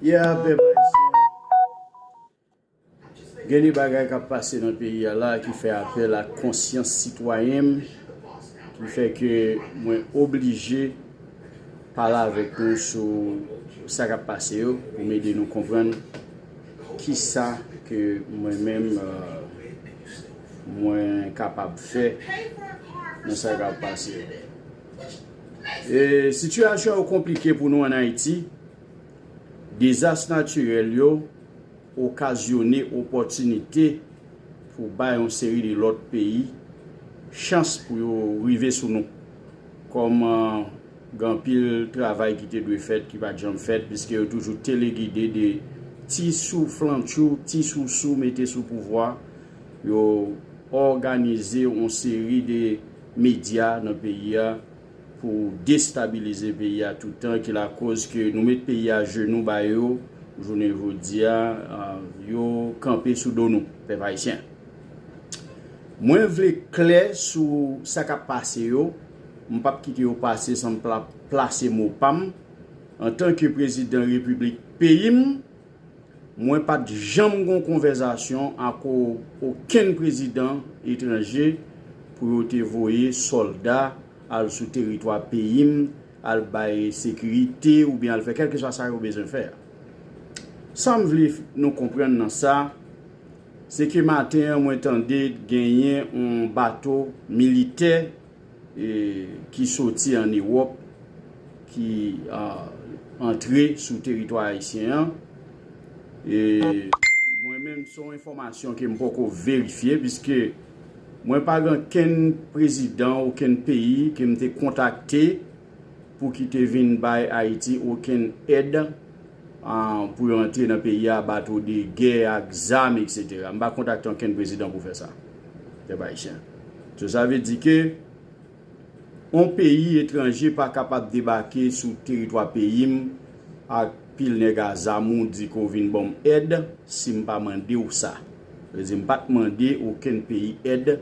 Yeah pèp ayisyen gen de bagay kap pase nan peyi a la ki fè apèl ak konsyans sitwayen m ki fè ke mwen oblije pale avèk nou sou sa kap pase yo pou m ede nou konprann kisa ke mwen menm mwen kapab fè nan sa kap pase yo. Sitiyasyon yo konplike pou nou an Ayiti, dezas natirèl yo okazyone opòtinite pou bay yon seri de lòt peyi chans pou yo rive sou nou. Kòm gen anpil travay ki te dwe fèt ki pa t janm fèt piske yo toujou telegide de ti souflantchou, ti sousou mete sou pouvwa, yo òganize yon seri de medya nan peyi a pou destabilize peyi a toutan ki lakoz ke nou met peyi a jenou ba yo jounen jodi a yo kanpe sou do nou pèp ayisyen mwen vle klè sou sa kap pase yo m pap kite yo pase san m pa plase mo pa m antan ke prezidan repiblik peyi m Mwen pat janm gon konvèzasyon ak okenn prezidan etranje pou yo te voye sòlda al sou teritwa peyi m al bay sekirite oubyen al fè kèlkeswa sa yo bezwen fè a. Sa m vle nou konprann nan sa, se ke maten an mwen tande genyen yon bato militè ki soti an Ewòp ki antre sou teritwa ayisyen an e mwen menm son enfòmasyon ke m poko verifye piske mwen pa gen okenn prezidan okenn peyi ke m te kontakte pou ki te vin bay Ayiti okenn èd pou yo antre nan peyi a bato de gè ak zam etc m pa kontakte ankenn prezidan pou fè sa pèp ayisyen so sa vle di ke yon peyi etranje pa kapab debake sou teritwa peyi m ak pil nèg a zam ou di ke w vin banm èd si m pa mande w sa sa vle di m pat mande okenn peyi èd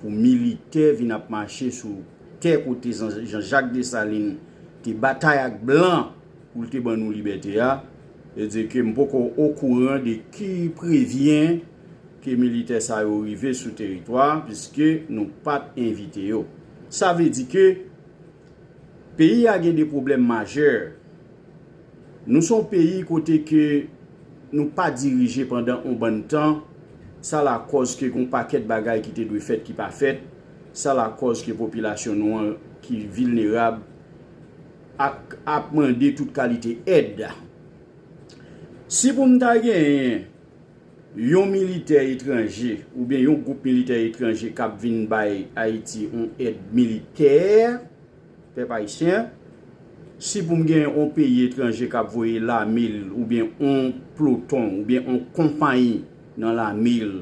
pou militè vin ap mache sou tè kote jan jak desalin te batay ak blan. Pou l te ban nou libète a, e di ke m poko okouran de ki prevyen ke militè sa yo rive sou teritwa a, piske nou pa t envite yo. Sa vle di ke peyi a gen de pwoblèm majè. Nou son peyi kote ke nou pa dirije pandan on bann tan, sa lakòz ke gon pakèt bagay ki te dwe fèt ki pa fèt, sa lakòz ke popilasyon nou an ki vilnerab, ak ap mande tout kalite èd. Si pou m ta genyen yon militè etranje oubyen yon gwoup militè etranje k ap vin bay Ayiti yon èd militè, pèp ayisyen, si pou m genyen yon peyi etranje k ap voye lame l oubyen yon ploton oubyen yon konpayi nan lame l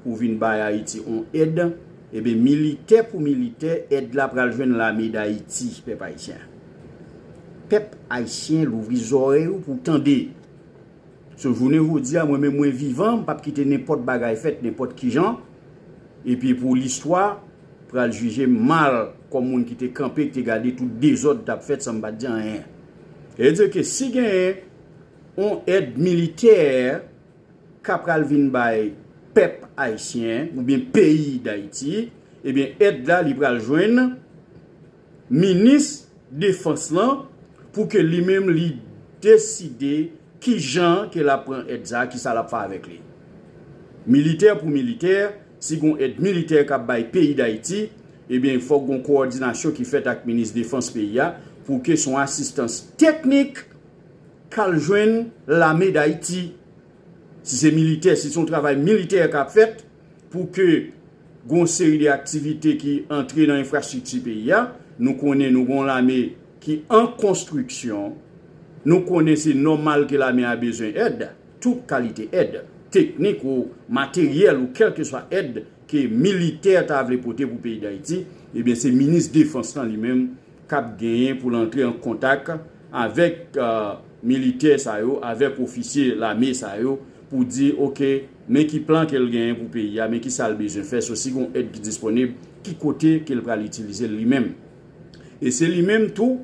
pou vin bay Ayiti on èd, eben militè pou militè, èd la pral jwenn lame dAyiti, pèp Ayisyen. Pèp Ayisyen louvri zòrèy ou pou w tande. So jounen jodi a mwen menm mwen vivan, m pap kite nenpòt bagay fèt nenpòt kijan, epi pou listwa pral jije m mal kòm moun ki te kanpe, ki te gade tout dezòd tap fèt san m pat di anyen. Sa vle di ke si genyen on èd militè ka pral vin bay pèp ayisyen oubyen peyi dayiti ebyen èd la li pral jwenn minis defans lan pou ke li menm li deside kijan ke lap pran èd sa kisa lap fè avèk li militè pou militè si gon èd militè kap bay peyi dayiti ebyen fòk gon kowòdinasyon ki fèt ak minis defans peyi a pou ke son asistans teknik. Kal jwenn lame dayiti si se militè si se yon travay militè kap fèt pou ke gon seri de aktivite ki antre nan enfrastrikti peyi a nou konnen nou gon lame ki an konstriksyon nou konnen se nòmal ke lame a bezwen èd tout kalite èd teknik ou materyèl ou kèlkeswa èd ke militè ta vle pote pou peyi dayiti ebyen se minis defans lan li menm k ap genyen pou l antre an kontak avèk militè sa yo, avèk ofisye lame sa yo pou di ok men ki plan ke l genyen pou peyi a, men ki sa l bezwen fè, so si gon èd ki disponib ki kote ke l pral itilize l li menm. E se li menm tou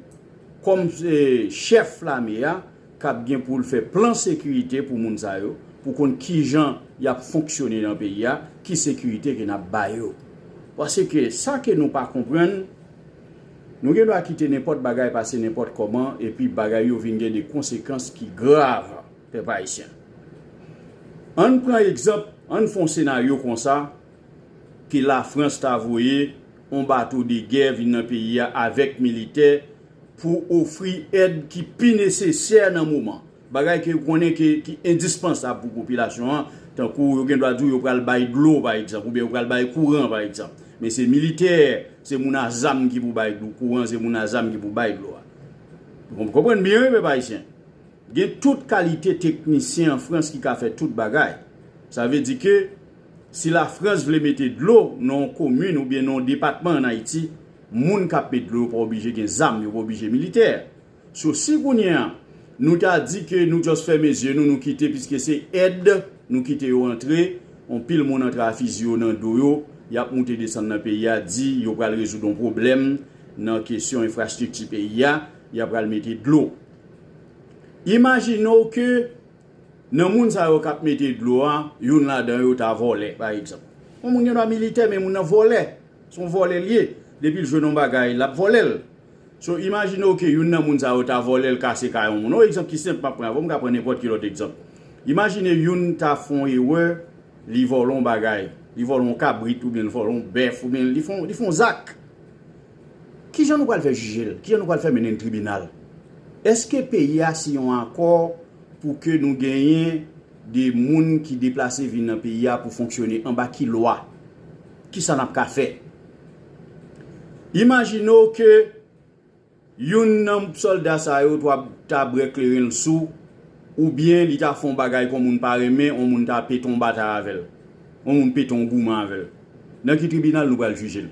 kòm chèf lame a k ap gen pou l fè plan sekirite pou moun sa yo, pou konn kijan y ap fonksyone nan peyi a, ki sekirite ke n ap ba yo. Paske sa ke nou pa konprann, nou gen dwa kite nenpòt bagay pase nenpòt kòman epi bagay yo vin gen de konsekans ki grav, pèp ayisyen. An n pran egzanp, an n fè yon senaryo konsa, ke Lafrans ta voye yon bato de gè vin nan peyi a avèk militè, pou ofri èd ki pi nesesè nan moman, bagay ke yo konnen ke ki endispansab pou popilasyon an, tankou yo gen dwa di w yo pral bay dlo pa egzanp, oubyen yo pral bay kouran pa egzanp, men se militè, se moun a zam ki pou bay kouran, se moun a zam ki pou bay dlo a. Nou konprann byen wi pèp ayisyen. Gen tout kalite teknisyen an Frans ki ka fè tout bagay. Sa vle di ke si la Frans vle mete dlo nan yon komin oubyen nan yon depatman an Ayiti, Moun kap met dlo yo pa oblije gen zam yo pa oblije militè so si kounye a nou ta di ke nou just fèmen zye nou nou kite piske se èd nou kite yo antre on pil moun antre a fizi yo nan do yo yap moute desann nan peyi a di yo pral rezoud on pwoblèm nan kesyon enfrastrikti peyi a ya pral mete dlo imajine w ke nan moun sa yo kap mete dlo a youn ladan yo ta vòlè pa egzanp on moun gen dwa militè men moun nan vòlè Son vòlè liye depil jwenn yon bagay lap vòlèl so imajinew ke youn nan moun sa yo ta vòlèl kase kay yon moun yon egzanp ki senp map pran avan mka pran nenpòt ki lòt egzanp imajine youn ta fon erè li vòlè yon bagay li vòlè yon kabrit oubyen li vòlè yon bèf oubyen li fon li fon zak kijan nou pral fè jijel kijan nou pral fè mennenl tribinal eske peyi a siyen yon akò pou ke nou genyen de moun ki deplase vin nan peyi a pou fonksyone anba ki lwa. Kisa nap ka fè? Imajine w ke youn nan sòlda sa yo ta bre kleren l sou ou byen li ta fè yon bagay ke yon moun pa renmen, yon moun ta pete yon batay avè l, yon moun pete yon goumen avè l. Nan ki tribinal nou pral jije l?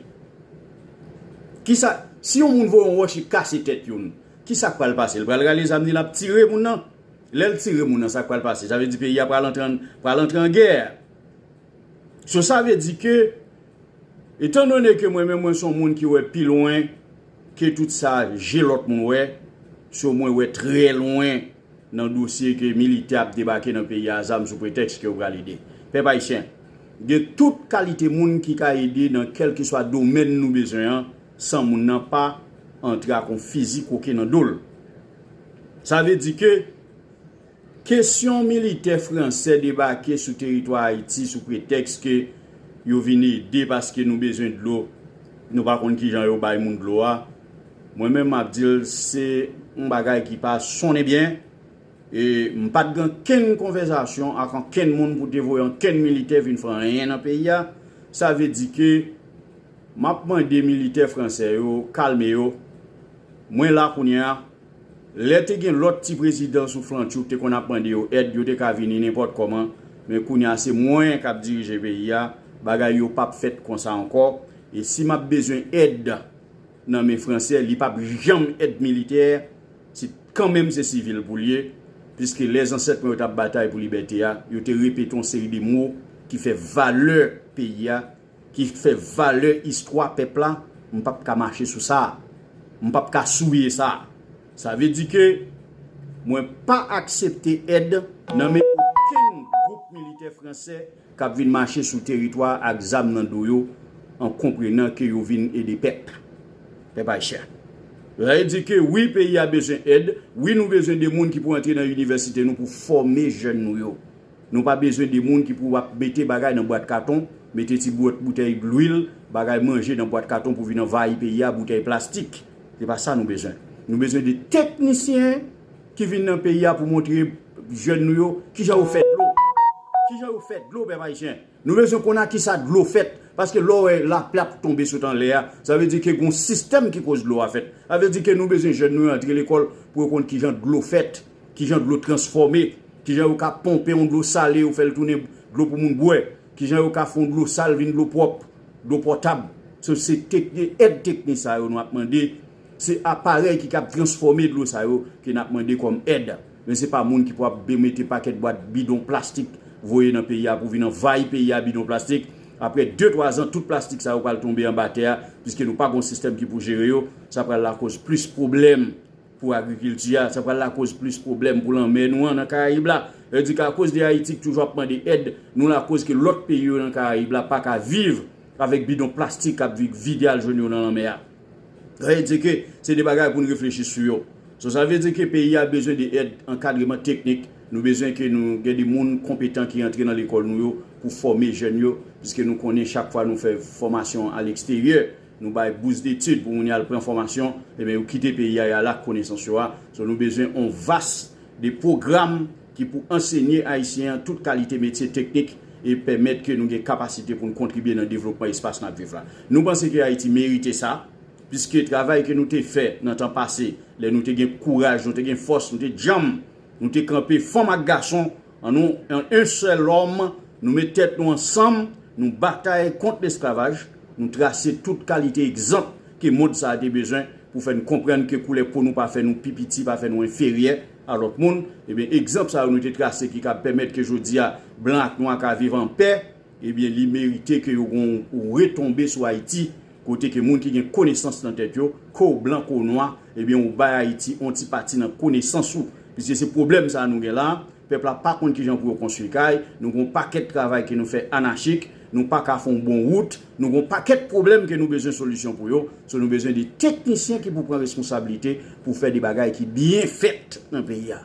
Kisa, si yon moun voye yon wòch li kase tèt youn, kisa k pral pase? Li pral rale zam li lap tire moun nan? Lè l tire moun nan sa k pral pase? Sa vle di peyi a pral antre an gè? So sa vle di ke, etan done ke mwen menm mwen son moun ki wè pi lwen ke tout sa je lòt moun wè, so mwen wè trè lwen nan dosye ke militè ap debake nan peyi a zam sou pretèks ke yo pral ede. Pèp Ayisyen, gen tout kalite moun ki ka ede nan kèlkeswa domèn nou bezwen an, san moun nan pa antre ak yon fizi koke nan do l. Sa vle di ke. Kesyon militè fransè debake sou teritwa Ayiti sou pretèks ke yo vin ede paske nou bezwen dlo, nou pa konn kijan yo bay moun dlo a, mwen menm map di l se yon bagay ki pa sonnen byen e m pat gen ankenn konvèzasyon ak ankenn moun pou te voye ankenn militè vin fè anyen nan peyi a, sa vle di ke map mande militè fransè yo kalme yo, mwen la kounye a. Lè te gen lòt ti prezidan sou flan tchouk te konn ap mande yo èd yo te ka vini nenpòt kòman men kounye a se mwen kap dirije peyi a bagay yo pap fèt konsa ankò e si map bezwen èd nan men fransè li pap janm èd militè se kanmenm se sivil poul ye piske lè zansèt mwen yo tap batay pou libète a yo te repete yon seri de mo ki fè valè peyi a ki fè valè istwa pèp la, m pap ka mache sou sa. M pap ka souye sa. Sa vle di ke mwen pa aksepte èd nan men okenn gwoup militè fransè k ap vin mache sou teritwa a ak zam nan do yo an konprenan ke yo vin ede pèp, pèp ayisyen. Sa vle di ke wi peyi a bezwen èd, wi nou bezwen de moun ki pou antre nan inivèsite nou pou fòme jèn nou yo. Nou pa bezwen de moun ki pou ap mete bagay nan bwat katon, mete ti bwot boutèy dlwil, bagay manje nan bwat katon pou vin anvayi peyi a, boutèy plastik. Se pa sa nou bezwen. Nou bezwen de teknisyen ki vin nan peyi a pou montre jèn nou yo ki jan yo fè dlo. Ki jan yo fè dlo, pèp ayisyen? Nou bezwen konn a ki sa dlo fèt. Paske lè w wè lapli ap tonbe sot anlè a, sa vle di ke gon sistèm ki koz dlo a fèt. Sa vle di ke nou bezwen jèn nou yo antre lekòl pou yo konn ki jan dlo fèt. Kijan dlo transfòme, kijan yo ka ponpe yon dlo sale yo fèl tounen dlo pou moun bwè, kijan yo ka fè yon dlo sal vin dlo pwòp, dlo potab. So se èd teknik sa yo nou ap mande, se aparèy ki kab transfòme dlo sa yo ke nap mande kòm èd. Men se pa moun ki pou ap mete pakèt bwat bidon plastik voye nan peyi a pou vin anvayi peyi a bidon plastik. Aprè 2 3 zan tout plastik sa yo pral tonbe anba tè a, piske nou pa gon sistèm ki pou jere yo, sa pral lakoz plis pwoblèm. Pou agrikilti a, sa pral lakoz plis pwoblèm pou lanmè nou an nan Karayib la. Sa vle di ke akoz de Ayiti ki toujou ap mande èd, nou lakoz ke lòt peyi yo nan Karayib la pa ka viv avèk bidon plastik k ap vik vide al jwenn yo nan lanmè a. Sa vle di ke se de bagay pou n reflechi sou yo. So sa vle di ke peyi a bezwen de èd ankadreman teknik. Nou bezwen ke nou gen de moun konpetan ki antre nan lekòl nou yo pou fòme jèn yo. Piske nou konnen chak fwa nou fè fòmasyon aleksteryè, Nou bay bous detid pou moun yal pran fòmasyon eben yo kite peyi a yal ak konesans yo a so nou bezwen on vas de pwogram ki pou ansenye ayisyen an tout kalite metye teknik e pèmèt ke nou gen kapasite poun kontribye nan devlopman espas nap viv la nou panse ke ayiti merite sa piske travay ke nou te fè nan tan pase lè nou te gen kouraj nou te gen fòs nou te djanm nou te kanpe fanm ak gason An nou an en sèl lòm, nou met tèt nou ansanm, nou batay kont lesklavaj, nou trase tout kalite egzanp ke mond sa a te bezwen pou fè n konprann ke koulè po nou pa fè nou pi piti, pa fè nou enferyè a lòt moun. Ebyen egzanp sa yo nou te trase ki kab pèmèt ke jodi a blan ak nwa ka viv an pè. Ebyen li merite ke yo gon w retonbe sou Ayiti kote ke moun ki gen konesans nan tèt yo, ko w blan ko w nwa, ebyen ou bay Ayiti on ti pati nan konesans ou. Piske se pwoblèm sa a nou gen la, pèp la pa konn kijan pou yo konstwi kay, nou gon pakèt travay ke nou fè anachik, nou pa ka fon bon wout, nou gon pakèt pwoblèm ke nou bezwen solisyon pou yo, so nou bezwen de teknisyen ki pou pran responsablite pou fè de bagay ki byen fèt nan peyi a.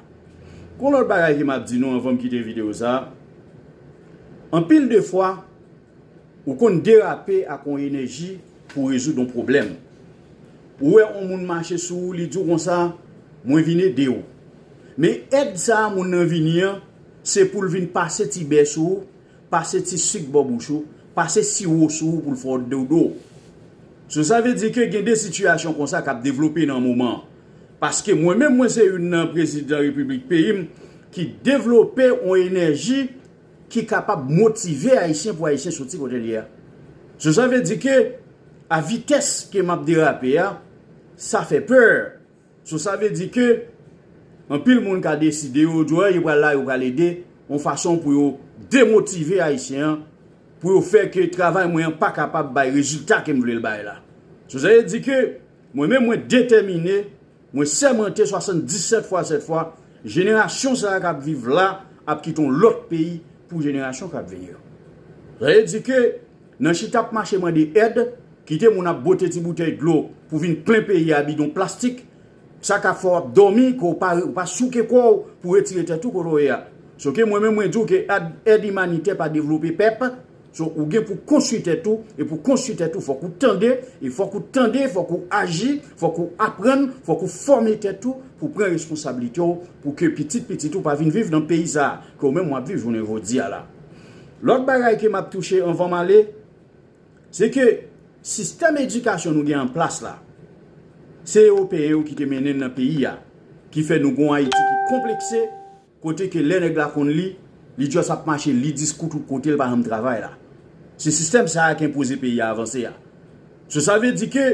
Gon lòt bagay ke map di nou anvan m kite video sa, anpil de fwa ou konn derape ak yon enèji pou rezoud yon pwoblèm. Ou wè yon moun mache sou ou li di w konsa, mwen vin ede w. Men èd sa moun nan vini an, se pou l vin pase ti bè sou ou, pase ti sik bò bouch ou, pase siwo sou ou pou l fè w dodo. So sa vle di ke gen de sitiyasyon konsa kap devlope nan moman. Paske mwen menm mwen se youn nan prezidan repiblik peyi m ki devlope yon enèji ki kapab motive Ayisyen pou Ayisyen soti kote l ye a. So sa vle di ke a vitès ke m ap derape a, sa fè pè. So sa vle di ke anpil moun ka deside yo di yo pral la, yo pral ede yon fason pou yo demotive Ayisyen an, pou yo fè ke travay mwen an pa kapab bay rezilta ke m vle l bay la. So sa vle di ke. Mwen menm mwen detèmine, mwen sèmante 77 fwa 7 fwa, jenerasyon sa a k ap viv la ap kite yon lòt peyi pou jenerasyon k ap vini yo. Sa vle di ke nan chita ap mache mande èd, kite moun ap bwote ti boutèy dlo pou vin plen peyi a bidon plastik, sa ka fè w ap dòmi ke w pa souke kò w pou retire tèt ou kote w ye a. Sou ke mwen menm mwen di w ke èd imanitè pa devlope pèp, So ou gen pou konstwi tèt ou e pou konstwi tèt ou fòk ou tande e fòk ou tande fòk ou aji fòk ou aprann fòk ou fòme tèt ou pou pran responsablite w pou ke pitit pitit ou pa vin viv nan peyi sa ke ou menm wap viv jounen jodi a la lòt bagay ke map touche anvan m ale se ke sistèm edikasyon nou gen an plas la se ewopeyen yo ki te mennen nan peyi a ki fè nou gon ayiti ki konplekse. Kote ke lè nèg la konn li, li just ap mache li diskou tout kote li pa janm travay la. Se sistèm sa a ki enpoze peyi a avanse a. So sa vle di ke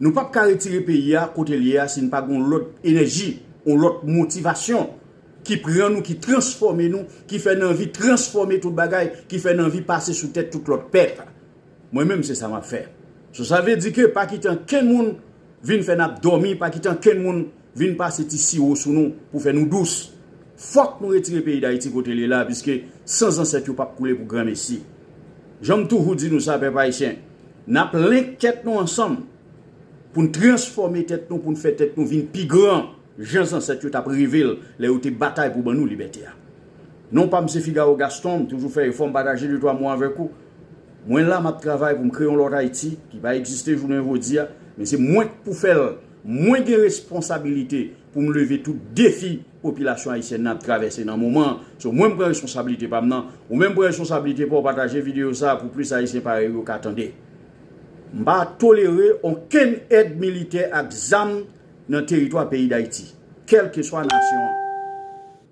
nou pap ka retire peyi a kote l ye a si n pa gen yon lòt enèji, yon lòt motivasyon ki pran nou, ki transfòme nou, ki fè n anvi transfòme tout bagay, ki fè n anvi pase sou tèt tout lòt pèp. Mwen menm se sa map fè. So sa vle di ke pa kite ankenn moun vin fè n ap dòmi, pa kite ankenn moun vin pase ti siwo sou nou pou fè nou dous. Fòk nou retire peyi Dayiti kote li la piske san zansèt yo pap koule pou granmesi. Jan m toujou di nou sa pèp ayisyen, n ap link tèt nou ansanm pou n transfòme tèt nou pou n fè tèt nou vin pi gran jan zansèt yo t ap reve l lè yo te batay pou ban nou libète a. Non pa m se Figaro Gaston, m toujou fè efò m pataje de twa mo avèk ou. Mwen la m ap travay pou m kreye yon lòt Ayiti ki pa egziste jounen jodi a men se mwen k pou fè l. Mwen gen responsabilite pou m leve tout defi popilasyon ayisyèn nan ap travèse nan moman an. So mwen m pran responsabilite pa m nan. Ou menm pran responsabilite pa w pataje videyo sa a pou plis ayisyen parèy ou yo ka tande. M pa tolere onkenn èd militè ak zam nan teritwa peyi Dayiti, kèlkeswa nasyon an.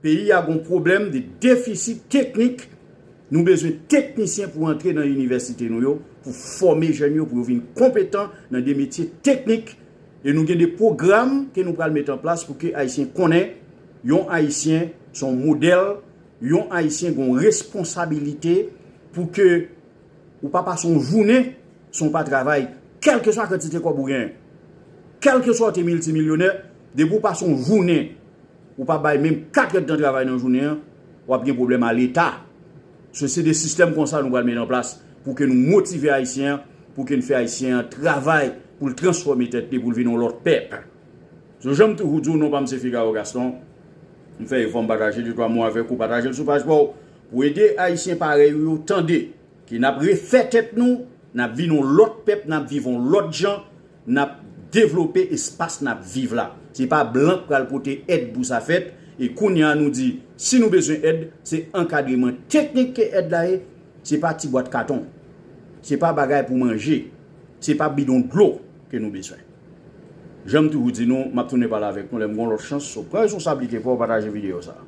Peyi a gon pwoblèm de defisit teknik. Nou bezwen teknisyen pou antre nan inivèsite nou yo pou fòme jèn yo pou yo vin konpetan nan de metye teknik e nou gen de pwogram ke nou pral met an plas pou ke Ayisyen konnen yon Ayisyen se yon modèl, yon Ayisyen gen yon responsabilite pou ke ou pa pase yon jounen san w pa travay kèlkeswa kantite kòb ou genyen. Kèlkeswa ou te miltimilyonè, depi ou pase yon jounen. ou pa bay menm 4 èd tan travay nan jounen an, wap gen pwoblèm a leta. So se de sistèm konsa nou pral met an plas pou ke nou motive ayisyen an, pou ke n fè ayisyen an travay pou l transfòme tèt li pou l vin yon lòt pèp. So jan m toujou di w non pa m se Figaro Gaston, m fè efò m pataje de twa mo avèk ou, pataje l sou paj pa w pou ede ayisyen parèy ou yo tande. Ke nap refè tèt nou, nap vin yon lòt pèp, nap viv yon lòt jan, nap devlope espas nap viv la. Se pa blan k pral pote èd pou sa fèt, e kounya nou di si nou bezwen èd, se ankadreman teknik ke èd la ye, se pa ti bwat katon, se pa bagay pou manje, se pa bidon dlo ke nou bezwen. Janm toujou di nou, map tounen pale avèk nou lèm gon lòt chans, so pran responsablite paw pataje videyo sa.